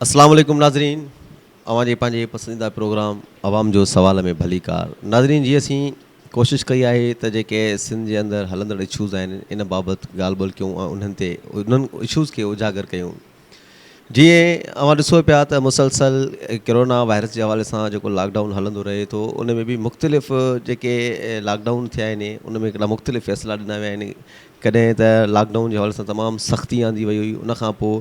اسلام عليڪم ناظرين اوهان جي پنهنجي پسنديده پروگرام عوام جو سوال ۾ ڀليڪار ناظرين جي اسين ڪوشش ڪئي آهي ته جيڪي سنڌ جي اندر هلندڙ اشوز آهن ان بابت ڳالهه ٻولهه ڪيون ۽ انهن تي انهن اشوز کي اجاگر ڪيون جيئن اوهان ڏسو پيا ته مسلسل ڪرونا وائرس جي حوالي سان جيڪو لاڪ ڊائون هلندو رهي ٿو ان ۾ به مختلف جيڪي لاڪ ڊائون ٿيا آهن ان ۾ هڪڙا مختلف فيصلا ڏنا ويا آهن ڪڏهن ته لاڪ ڊائون جي حوالي سان تمام سختي آندي وئي هئي ان کان پوء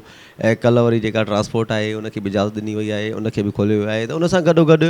ڪلهه وري جيڪا ٽرانسپورٽ آهي ان کي به اجازت ڏني وئي آهي ان کي به کوليو ويو آهي ته ان سان گڏو گڏ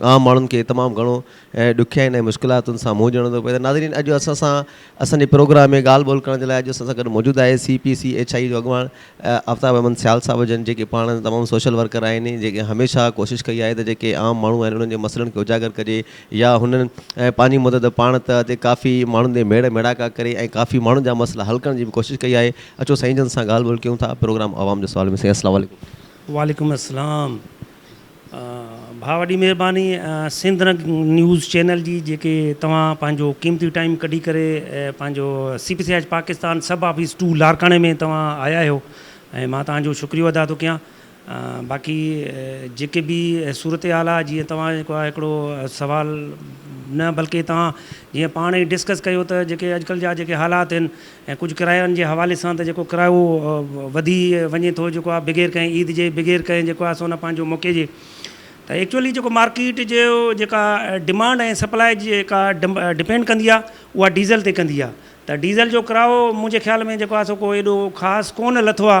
عام ماڻهن کي تمام گهڻو ڏکيائين ۽ مشڪلاتن سان منهن ڏيڻو ٿو پوي ته ناظرين اڄ اسان سان اسان جي پروگرام ۾ ڳالهه ٻولهه ڪرڻ جي لاء اڄ اسان سان گڏ موجود آهي C P C H I جو اڳواڻ آفتاب احمد سيال صاحب هجن جيڪي پاڻ تمام سوشل ورڪر آهن جيڪي هميشه ڪوشش ڪئي آهي ته جيڪي عام ماڻهو آهن انهن جي مسئلن کي اجاگر ڪجي يا هنن پنهنجي مدد پاڻ ته هتي ڪافي ماڻهن تي ميڙ ميڙاڪا ڪري ۽ ڪافي ماڻهن جا مسئلا حل ڪرڻ جي به ڪوشش ڪئي آهي اچو سائين جن سان ڳالهه ٻولهه ڪيون ٿا پروگرام عوام جو سوال ۾ سائين السلام عليڪم وعليڪم السلام ڀاء وڏي مھرباني سنڌ رنگ نيوز چينل جي جيڪي توھان پنھنجو قيمتي ٽائيم ڪڍي ڪري پنھنجو C P C H Pakistan sub office to لاڙڪاڻي ۾ توھان آيا آھيو ۽ مان توھان جو شڪريو ادا ٿو ڪيان باقي جيڪي به صورتحال آ جيئن توھان جيڪو آ ھڪڙو سوال نه بلڪه توھان جيئن پاڻ ئي ڊسڪس ڪيو ته جيڪي اڄڪلھ جا جيڪي حالات ھن ۽ ڪجهه ڪرايائن جي حوالي سان ته جيڪو ڪرايو وڌي وڃي ٿو جيڪو آ بغير ڪنهن عيد جي بغير ڪنهن جيڪو آ سو نه پنهنجو موقعي جي ته ايڪچوئلي جيڪو مارڪيٽ جي جيڪا ڊمانڊ ۽ سپلاء جي جيڪا ڊپينڊ ڪندي آ اها ڊيزل تي ڪندي آ ته ڊيزل جو ڪرايو منهنجي خيال ۾ جيڪو آ سو ڪو ايڏو خاص ڪونه لٿو آ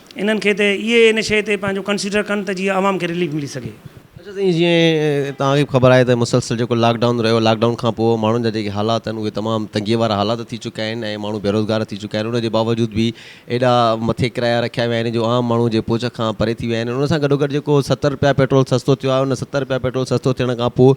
انهن کي ته اهي ان شيء تي پنهنجو ڪنسيڊر ڪن ته جيئن عوام کي رليف ملي سگهي. اچا سائين جيئن توهان کي به خبر آهي ته مسلسل جيڪو لاڪ ڊائون رهيو لاڪ ڊائون کان پوء ماڻهن جا جيڪي حالات آهن اهي تمام تنگي وارا حالات ٿي چڪا آهن ۽ ماڻهو بيروزگار ٿي چڪا آهن ان جي باوجود به ايڏا مٿي ڪرايا رکيا ويا آهن جو عام ماڻهو جي پهچ کان پري ٿي ويا آهن ان سان گڏوگڏ جيڪو ستر رپيا پيٽرول سستو ٿيو آهي ان ستر رپيا پيٽرول سستو ٿيڻ کان پوء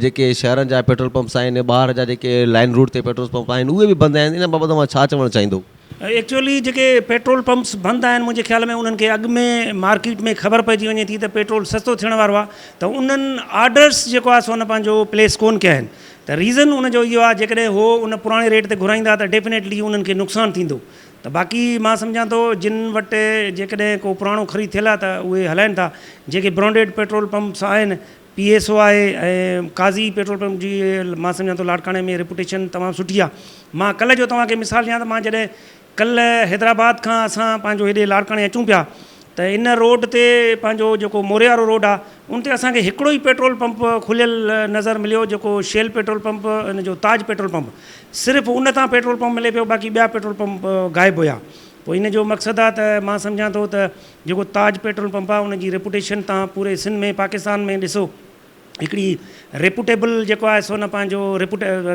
جيڪي شهرن جا پيٽرول پمپس آهن ٻاهر جا جيڪي لائن روٽ تي پيٽرول پمپ آهن اهي به بند آهن ان بابت اوهان ڇا چوڻ چاهيندو. ايڪچوئلي جيڪي پيٽرول پمپس بند آهن منهنجي خيال ۾ انهن کي اڳ ۾ مارڪيٽ ۾ خبر پئجي وڃي ٿي ته پيٽرول سستو ٿيڻ وارو آهي ته انهن آرڊرس جيڪو آهي سو ان پنهنجو پليس ڪون ڪيا آهن ته ريزن ان جو اهو آهي جيڪڏهن اهو ان پراڻي ريٽ تي گهرائيندا ته ڊيفنيٽلي انهن کي نقصان ٿيندو ته باقي مان سمجهان ٿو جن وٽ جيڪڏهن ڪو پراڻو خريد ٿيل آهي ته اهي هلائن ٿا جيڪي برانڊيڊ پيٽرول پمپس آهن پي ايس او آهي ۽ قاضي پيٽرول پمپ جي مان سمجهان ٿو لاڙڪاڻي ۾ ريپوٽيشن تمام سٺي آهي مان ڪلهه جو توهان کي مثال ڏيان ته مان جڏهن ڪلهه حيدرآباد کان اسان پنهنجو هيڏي لاڙڪاڻي اچون پيا ته ان روڊ تي پنهنجو جيڪو موري وارو روڊ آهي ان تي اسان کي هڪڙو ئي پيٽرول پمپ کليل نظر مليو جيڪو شيل پيٽرول پمپ ان جو تاج پيٽرول پمپ صرف ان تان پيٽرول پمپ ملي پيو باقي ٻيا پيٽرول پمپ غائب هيا پوء ان جو مقصد آهي ته مان سمجهان ٿو ته جيڪو تاج پيٽرول پمپ آ ان جي ريپوٽيشن تان پوري سنڌ ۾ پاڪستان ۾ ڏسو هڪڙي ريپوٽيبل جيڪو آهي سو نه پنهنجو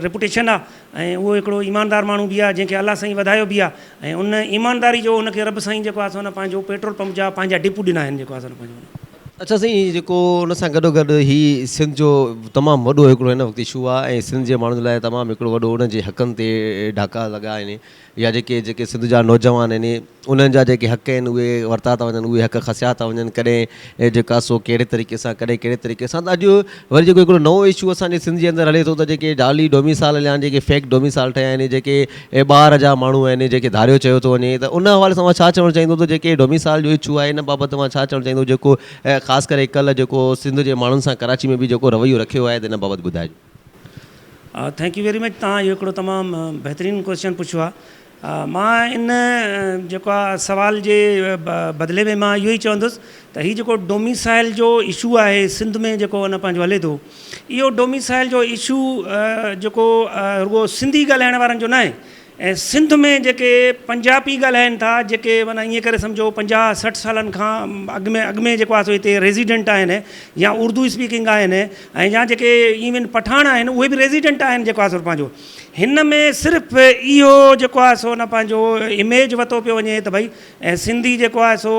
ريپوٽيشن آ ۽ اهو هڪڙو ايماندار ماڻهو به آ جنهن کي الله سائين وڌايو به آ ۽ ان ايمانداري جو ان کي رب سائين جيڪو آ سو نه پنهنجو پيٽرول پمپ جا پنهنجا ڊپو ڏنا آهن جيڪو آ سو نه پنهنجو. اڇا سائين جيڪو ان سان گڏو گڏ هي سنڌ جو تمام وڏو هڪڙو هن وقت اشو آ ۽ سنڌ جي ماڻهن لاء تمام هڪڙو وڏو ان جي حقن تي ڊاڪا لڳا آهن يا جيڪي جيڪي سنڌ جا نوجوان آهن انهن جا جيڪي حق آهن اهي ورتا ٿا وڃن اهي حق کسيا ٿا وڃن ڪڏهن جيڪا سو ڪهڙي طريقي سان ڪڏهن ڪهڙي طريقي سان ته اڄ وري جيڪو هڪڙو نئون اشو اسان جي سنڌ جي اندر هلي ٿو ته جيڪي جعلي ڊوميسال هليا آهن جيڪي فيڪ ڊوميسال ٺهيا آهن جيڪي ٻاهر جا ماڻهو آهن جيڪي ڌاريو چيو ٿو وڃي ته ان حوالي سان اوهان ڇا چوڻ چاهيندو ته جيڪي ڊوميسال جو اشو آهي ان بابت اوهان ڇا چوڻ چاهيندو جيڪو خاص ڪري ڪلهه جيڪو سنڌ جي ماڻهن سان ڪراچي ۾ به جيڪو رويو رکيو آهي ته ان بابت ٻڌائجو ٿينڪ يو ويري مچ توهان اهو هڪڙو تمام بهترين ڪويسچن پڇيو آهي مان ان جيڪو آهي سوال جي بدلي ۾ مان اهو ئي چوندس ته هي جيڪو ڊوميسائل جو اشو آهي سنڌ ۾ جيڪو ان پنهنجو هلي ٿو اهو ڊوميسائل جو اشو جيڪو رڳو سنڌي ڳالهائڻ وارن جو ناهي ۽ سنڌ ۾ جيڪي پنجابي ڳالهائين ٿا جيڪي معنيٰ ائين ڪري سمجهو پنجاهه سٺ سالن کان اڳ ۾ اڳ ۾ جيڪو آهي سو هتي ريزيڊنٽ آهن يا اردو اسپيڪنگ آهن ۽ يا جيڪي ايون پٺاڻ آهن اهي به ريزيڊنٽ آهن جيڪو آهي سو پنهنجو هن ۾ صرف اهو جيڪو آهي سو نه پنهنجو اميج وتو پيو وڃي ته ڀئي سنڌي جيڪو آهي سو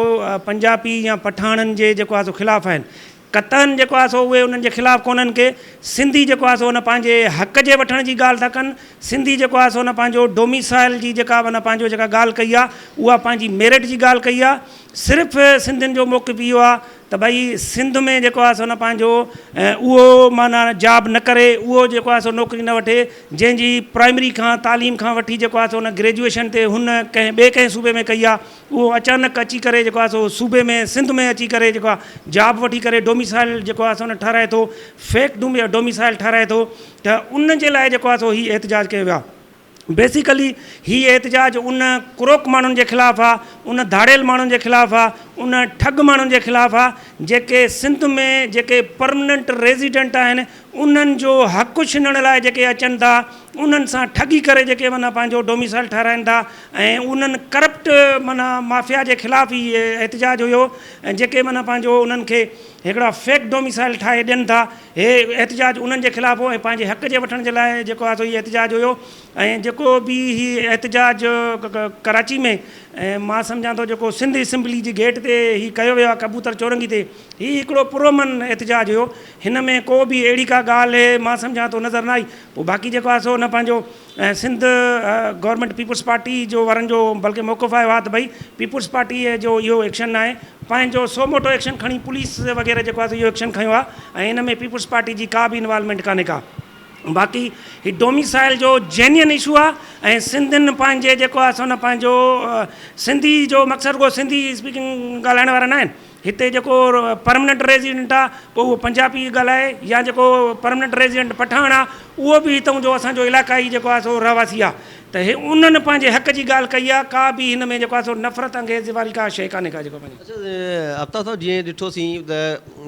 پنجابي يا پٺاڻن جي جيڪو آهي سو خلاف آهن قطعن جيڪو آهي سو اهي انهن جي خلاف ڪونهن ڪي سنڌي جيڪو آهي سو ان پنهنجي حق جي وٺڻ جي ڳالهه ٿا ڪن سنڌي جيڪو آهي سو ان پنهنجو ڊوميسائل جي جيڪا به ان پنهنجو جيڪا ڳالهه ڪئي آهي اها پنهنجي ميرٽ جي ڳالهه ڪئي آهي صرف سنڌين جو موقف اهو آهي ته ڀئي سنڌ ۾ جيڪو آهي سو ان پنهنجو اهو معنيٰ جاب نه ڪري اهو جيڪو آهي سو نوڪري نه وٺي جنهن جي پرائمري کان تعليم کان وٺي جيڪو آهي سو ان گريجوئيشن تي هن ڪنهن ٻئي ڪنهن صوبي ۾ ڪئي آهي اهو اچانڪ اچي ڪري جيڪو آهي سو صوبي ۾ سنڌ ۾ اچي ڪري جيڪو آهي جاب وٺي ڪري ڊوميسائل جيڪو آهي سو ان ٺهرائي ٿو فيڪ ڊوميسائل ٺهرائي ٿو ته ان جي لاء جيڪو آهي سو هي احتجاج ڪيو ويو آهي بيسيڪلي هي احتجاج ان ڪروڪ ماڻهن جي خلاف آهي ان ڌاڙيل ماڻهن جي خلاف آهي ان ٺڳ ماڻهن جي خلاف آهي جيڪي سنڌ ۾ جيڪي پرمننٽ ريزيڊنٽ آهن انهن جو حق ڇنڻ لاء جيڪي اچن ٿا انهن سان ٺڳي ڪري جيڪي معنيٰ پنهنجو ڊوميسائل ٺهرائن ٿا ۽ انهن ڪرپٽ معنيٰ مافيا جي خلاف هي احتجاج هيو ۽ جيڪي معنيٰ پنهنجو انهن کي هڪڙا فيڪ ڊوميسائل ٺاهي ڏين ٿا هي احتجاج انهن جي خلاف هو ۽ پنهنجي حق جي وٺڻ جي لاء جيڪو آهي سو هي احتجاج هيو ۽ جيڪو به هي احتجاج ڪراچي ۾ ۽ مان سمجهان ٿو جيڪو سنڌ اسيمبلي جي گيٽ تي هي ڪيو ويو آهي ڪبوتر چورنگي تي هي هڪڙو پرامن احتجاج هيو هن ۾ ڪو به اهڙي ڪا ڳالهه مان سمجهان ٿو نظر نه آئي پوء باقي جيڪو آهي سو هن پنهنجو سنڌ گورنمينٽ پيپلز پارٽي جو وارن جو بلڪه موقف آيو آهي ته ڀئي پيپلز پارٽي جو اهو ايڪشن ناهي پنهنجو سو موٽو ايڪشن کڻي پوليس وغيره جيڪو آهي سو اهو ايڪشن کنيو آهي ۽ هن ۾ پيپلز پارٽي جي ڪا به انوالومينٽ ڪانهي ڪا باقي هي ڊوميسائل جو جينين اشو آهي ۽ سنڌين پنهنجي جيڪو آهي سو هن پنهنجو سنڌي جو مقصد رڳو سنڌي اسپيڪنگ ڳالهائڻ وارا ناهن هتي جيڪو پرمننٽ ريزيڊنٽ آ پوء اهو پنجابي ڳالهائي يا جيڪو پرمننٽ ريزيڊنٽ پٺاڻ آ اهو به هتئون جو اسان جو علاقائي جيڪو آ سو رهواسي آ ته هي انهن پنهنجي حق جي ڳالهه ڪئي آ ڪا به هن ۾ جيڪو آ سو نفرت انگيزي واري ڪا شيء ڪانهي ڪا جيڪو پنهنجي. اڇا آفتاب صاحب جيئن ڏٺو سين ته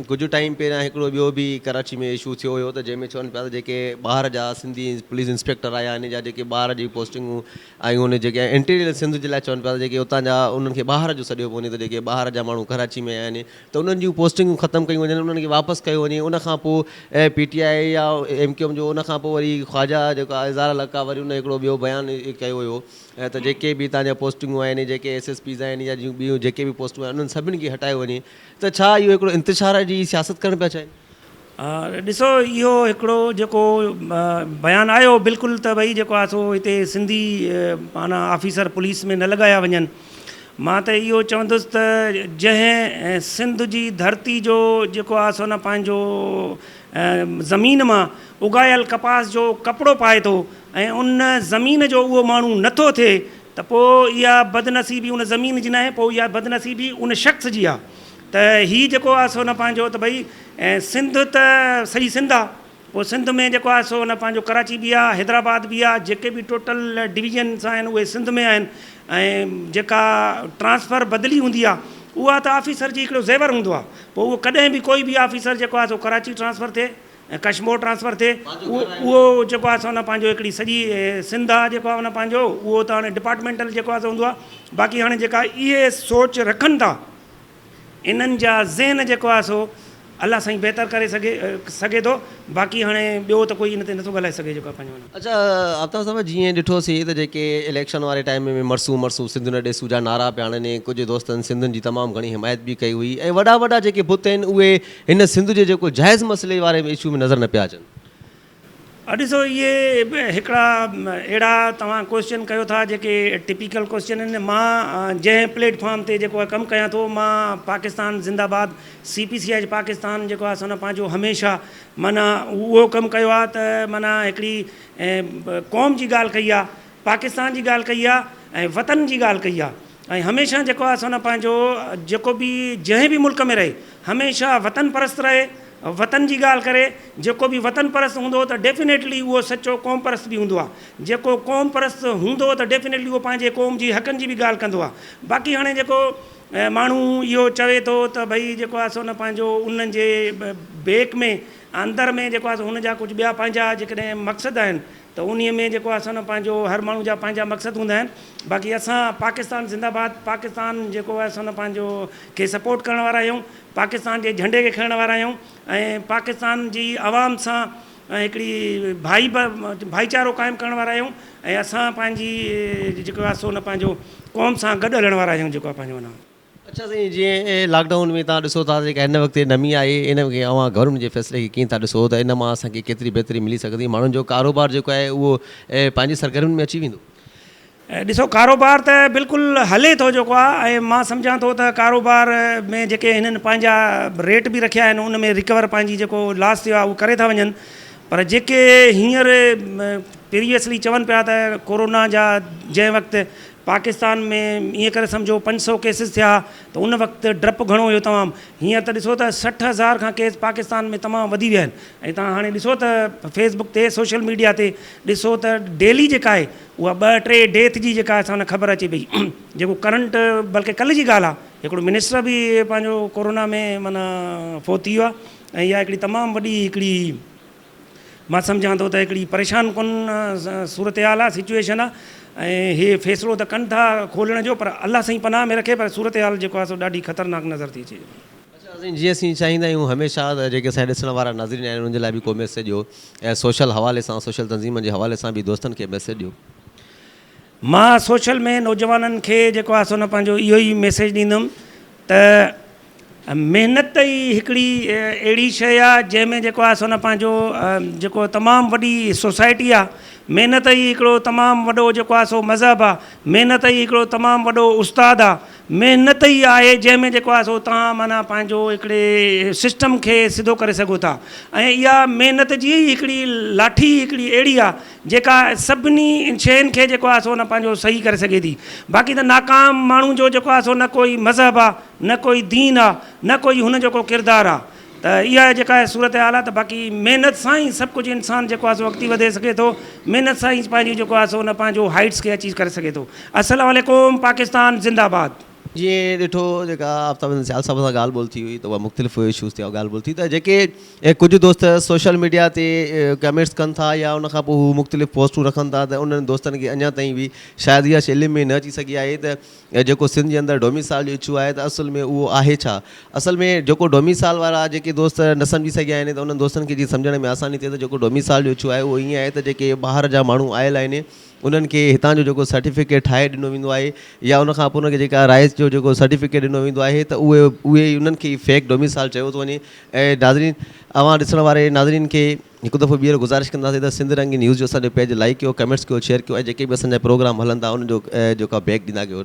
ڪجهه ٽائيم پهريان هڪڙو ٻيو به ڪراچي ۾ اشو ٿيو هيو ته جنهن ۾ چون پيا ته جيڪي ٻاهر جا سنڌي پوليس انسپيڪٽر آ يا هن جا جيڪي ٻاهر جي پوسٽنگون ۽ ان جيڪي انٽيريل سنڌ جي لاء چون پيا ته جيڪي اتان جا انهن کي ٻاهر جو سڏيو پيو وڃي ته جيڪي ٻاهر جا ماڻهو ڪراچي ۾ آهن ته انهن جون پوسٽنگون ختم ڪيون وڃن انهن کي واپس ڪيو وڃي ان کان پوء پي ٽي آء يا ايم ڪيو ايم جو ان کان پوء وري خواجا جيڪو آهي اظهار الحق آهي وري ان هڪڙو ٻيو بيان ڪيو هيو ته جيڪي به هتان جا پوسٽنگون آهن جيڪي ايس ايس پيز آهن يا جون ٻيون جيڪي به پوسٽون آهن انهن سڀني کي هٽايو وڃي ته ڇا اهو هڪڙو انتشار جي سياست ڪرڻ پيا چاهين؟ ڏسو اهو هڪڙو جيڪو بيان آيو بلڪل ته ڀئي جيڪو آهي سو هتي سنڌي معنيٰ آفيسر پوليس ۾ نه لڳايا وڃن مان ته اهو چوندس ته جنهن سنڌ جي ڌرتي جو جيڪو آهي سو نه پنهنجو زمين مان اگايل ڪپاس جو ڪپڙو پائي ٿو ۽ ان زمين جو اهو ماڻهو نه ٿو ٿئي ته پوء اها بدنصيبي ان زمين جي ناهي پوء اها بدنصيبي ان شخص جي آهي ته هي جيڪو آهي سو نه پنهنجو ته ڀئي سنڌ ته سڄي سنڌ آهي پوء سنڌ ۾ جيڪو آهي سو نه پنهنجو ڪراچي به آهي حيدرآباد به آهي جيڪي به ٽوٽل ڊويزنس آهن اهي سنڌ ۾ آهن ۽ جيڪا ٽرانسفر بدلي هوندي آهي اها ته آفيسر جي هڪڙو زيور هوندو آهي پوء اهو ڪڏهن به ڪوئي به آفيسر جيڪو آهي سو ڪراچي ٽرانسفر ٿئي ڪشمور ٽرانسفر ٿئي اهو اهو جيڪو آهي سو نه پنهنجو هڪڙي سڄي سنڌ آهي جيڪو آهي نه پنهنجو اهو ته هاڻي ڊپارٽمينٽل جيڪو آهي سو هوندو آهي باقي هاڻي جيڪا اهي سوچ رکن ٿا انهن جا ذهن جيڪو آهي سو الله سائين بهتر ڪري سگهي سگهي ٿو باقي هاڻي ٻيو ته ڪوئي ان تي نٿو ڳالهائي سگهي جيڪو آهي پنهنجو ان. اچا آفتاب صاحب جيئن ڏٺوسي ته جيڪي اليڪشن واري ٽائيم ۾ مرسون مرسون سنڌ نه ڏيسون جا نعرا پيا هڻن ۽ ڪجهه دوستن سنڌين جي تمام گهڻي حمايت به ڪئي هئي ۽ وڏا وڏا جيڪي بت آهن اهي هن سنڌ جي جيڪو جائز مسئلي واري اشو ۾ نظر نه پيا اچن. اھا ڏسو اھي ھڪڙا اھڙا توھان ڪوئسچن ڪيو ٿا جيڪي ٽپيڪل ڪوئسچن آھن مان جنھن پليٽ فارم تي جيڪو ڪم ڪيان ٿو مان پاڪستان زنده باد سي پي سي آئي جي پاڪستان جيڪو آھي سو ھن پنھنجو ھميشه معنيٰ اھو ڪم ڪيو آھي ته معنيٰ ھڪڙي قوم جي ڳالھ ڪئي آھي پاڪستان جي ڳالهه ڪئي آهي ۽ وطن جي ڳالهه ڪئي آهي ۽ هميشه جيڪو آهي سو نه پنهنجو جيڪو به جنهن به ملڪ ۾ رهي هميشه وطن پرست رهي وطن جي ڳالهه ڪري جيڪو به وطن پرست هوندو ته ڊيفنيٽلي اهو سچو قوم پرست به هوندو آهي جيڪو قوم پرست هوندو ته ڊيفنيٽلي اهو پنهنجي قوم جي حقن جي به ڳالهه ڪندو آهي باقي هاڻي جيڪو ماڻهو اهو چوي ٿو ته ڀئي جيڪو آهي سو نه پنهنجو انهن جي بيڪ ۾ اندر ۾ جيڪو آهي سو هن جا ڪجهه ٻيا پنهنجا جيڪڏهن مقصد آهن ته انهي ۾ جيڪو آهي سو نه پنهنجو هر ماڻهو جا پنهنجا مقصد هوندا آهن باقي اسان پاڪستان زنده باد پاڪستان جيڪو آهي سو نه پنهنجو کي سپورٽ ڪرڻ وارا آهيون پاڪستان جي جهنڊي کي کڻڻ وارا آهيون ۽ پاڪستان جي عوام سان هڪڙي ڀائي ڀائيچارو قائم ڪرڻ وارا آهيون ۽ اسان پنهنجي جيڪو آهي سو نه پنهنجو قوم سان گڏ هلڻ وارا آهيون جيڪو آهي پنهنجو اڇا سائين جيئن لاڪ ڊائون ۾ توهان ڏسو ٿا جيڪا هن وقت نمي آهي ان کي اوهان گورنمينٽ جي فيصلي کي ڪيئن ٿا ڏسو ته ان مان اسان کي ڪيتري بهتري ملي سگهندي ماڻهن جو ڪاروبار جيڪو آهي اهو پنهنجي سرگرمين ۾ اچي ويندو. ڏسو ڪاروبار ته بلڪل هلي ٿو جيڪو آهي ۽ مان سمجهان ٿو ته ڪاروبار ۾ جيڪي هنن پنهنجا ريٽ به رکيا آهن ان ۾ رڪور پنهنجي جيڪو لاس ٿيو آهي اهو ڪري ٿا وڃن پر جيڪي هينئر پريويسلي چون پيا ته ڪورونا جا جنهن وقت پاڪستان ۾ ائين ڪري سمجهو پنج سؤ ڪيسز ٿيا ته ان وقت ڊپ گهڻو هيو تمام هينئر ته ڏسو ته سٺ هزار کان ڪيس پاڪستان ۾ تمام وڌي ويا آهن ۽ توهان هاڻي ڏسو ته فيس بڪ تي سوشل ميڊيا تي ڏسو ته ڊيلي جيڪا آهي اها ٻه ٽي ڊيٿ جي جيڪا اسان کي خبر اچي پئي جيڪو ڪرنٽ بلڪه ڪلهه جي ڳالهه آهي هڪڙو منسٽر به پنهنجو ڪورونا ۾ معنيٰ فوت ٿي ويو آهي ۽ اها هڪڙي تمام وڏي هڪڙي مان سمجهان ٿو ته هڪڙي پريشان ڪن صورتحال آ سچوئيشن آ ۽ هي فيصلو ته ڪن ٿا کولڻ جو پر الله سائين پناهه ۾ رکي پر صورتحال جيڪو آ سو ڏاڍي خطرناڪ نظر ٿي اچي وڃي. اچا ناظرين جي اسين چاهيندا آهيون هميشه ته جيڪي اسان کي ڏسڻ وارا ناظرين آهن انهن جي لاء به ڪو ميسيج ڏيو ۽ سوشل حوالي سان سوشل تنظيمن جي حوالي سان به دوستن کي ميسيج ڏيو. مان سوشل ۾ نوجوانن کي جيڪو آهي سو نه پنهنجو اهو ئي ميسيج ڏيندم ته محنت ئي هڪڙي اهڙي شيء آهي جنهن ۾ جيڪو آهي سو نه پنهنجو جيڪو تمام وڏي سوسائٽي آهي محنت ئي هڪڙو تمام وڏو جيڪو آهي سو مذهب آهي محنت ئي هڪڙو تمام وڏو استاد آهي محنت ئي آهي جنهن ۾ جيڪو آهي سو تان معنيٰ پنهنجو هڪڙي سسٽم کي سڌو ڪري سگهو ٿا ۽ اها محنت جي هڪڙي لاٺي هڪڙي اهڙي آهي جيڪا سڀني شين کي جيڪو آهي سو نه پنهنجو صحيح ڪري سگهي ٿي باقي ته ناڪام ماڻهو جو جيڪو آهي سو نه ڪوئي مذهب آهي نه ڪوئي دين آهي نه ڪوئي هن جو ڪو ڪردار آهي ته اها جيڪا آهي صورت حال آهي ته باقي محنت سان ئي سڀ ڪجهه انسان جيڪو آهي سو اڳتي وڌي سگهي ٿو محنت سان ئي پنهنجو جيڪو آهي سو نه پنهنجو هائيٽس کي اچيو ڪري سگهي ٿو السلام عليڪم پاڪستان زنده آباد. جيئن ڏٺو جيڪا آفتاب حسن سيال صاحب سان ڳالهه ٻولهه ٿي هئي ته اها مختلف اشوز تي ڳالهه ٻولهه ٿي ته جيڪي ڪجهه دوست سوشل ميڊيا تي ڪمينٽس ڪن ٿا يا ان کان پوء هو مختلف پوسٽون رکن ٿا ته انهن دوستن کي اڃا تائين به شايد اها شي علم ۾ نه اچي سگهي آهي ته جيڪو سنڌ جي اندر ڊوميسائل جو اشو آهي ته اصل ۾ اهو آهي ڇا؟ اصل ۾ جيڪو ڊوميسائل وارا جيڪي دوست نه سمجهي سگهيا آهن ته انهن دوستن کي جيئن سمجهڻ ۾ آساني ٿئي ته جيڪو ڊوميسائل جو اشو آهي اهو ائين آهي ته جيڪي ٻاهر جا ماڻهو آيل آهن انهن کي هتان جو جيڪو سرٽيفڪيٽ ٺاهي ڏنو ويندو آهي يا ان کان پوء انهن کي جيڪا رهائش جو جيڪو سرٽيفڪيٽ ڏنو ويندو آهي ته اهي اهي ئي انهن کي ئي فيڪ ڊوميسائل چيو ٿو وڃي ۽ ناظرين اوهان ڏسڻ واري ناظرين کي هڪ دفعو ٻيهر گذارش ڪنداسين ته سنڌ رنگين نيوز جو اسان جو پيج لائڪ ڪيو ڪمينٽس ڪيو شيئر ڪيو ۽ جيڪي به اسان جا پروگرام هلن ٿا انهن جو جيڪا بيڪ ڏيندا ڪيو